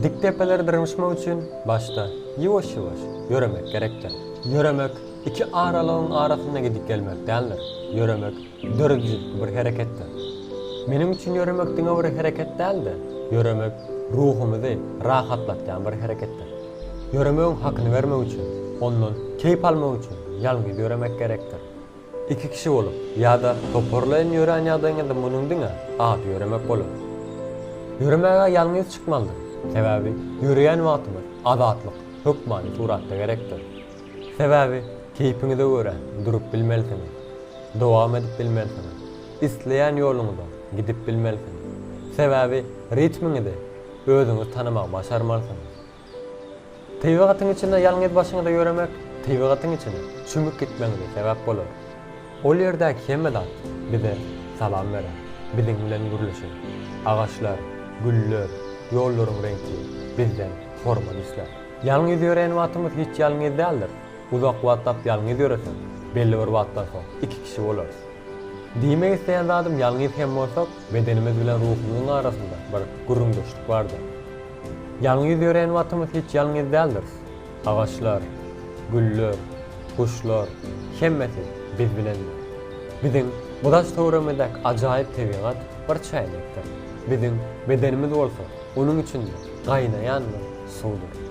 Dik depeleri dyrmyşmak üçin başda ýuwaş-ýuwaş ýöremek gerekdir. Ýöremek iki aralygyň arasynda gidip gelmek däldir. Ýöremek döredijilikli bir hereketdir. Meniň üçin ýöremek diňe bir hereket däl-de, ýöremek ruhumyzy rahatlatýan bir hereketdir. Ýöremegiň hakyny bermek üçin, ondan keýp almak üçin ýalňyz ýöremek gerekdir. Iki kişi bolup ýa-da toparlaýyn ýörän ýagdaýyňyzda munuň diňe ady ýöremek bolar. Ýöremäge ýalňyz çykmalydyr, sebäbi ýöreýän wagtyňyz azatlyk hökmany suratda gerekdir. Sebäbi keýpiňize görä durup bilmelisiňiz, dowam edip bilmelisiňiz, isleýän ýoluňyza gidip bilmelisiňiz. Sebäbi ritmiňizi özüňiz tanamagy başarmalysyňyz. Tebigatyň içinde ýalňyz başyňyza ýöremek tebigatyň içine çümüp gitmeňize sebäp bolar. Ol ýerdäki hemme zat bize salam berer, biziň bilen gürleşer. Agaçlar, güller, ýollaryň reňki bizden hormat islär. Ýalňyz ýören wagtymyz hiç ýalňyz däldir. Uzak wagtlap ýalňyz ýöresek, belli bir wagtdan soň iki kişi bolarys. Diýmek isleýän zadym ýalňyz hem bolsak, bedenimiz bilen ruhumyzyň arasynda bir gürrüňdeşlik bardyr. Ýalňyz ýören wagtymyz hiç ýalňyz däldiris. Agaçlar, güller, guşlar, hemmesi biz bilendir. Biziň bu daş-töweregimizdäki ajaýyp tebigat bir çäýnekdir. Biziň bedenimiz bolsa onuň içinde gaýnaýan bir suwdur.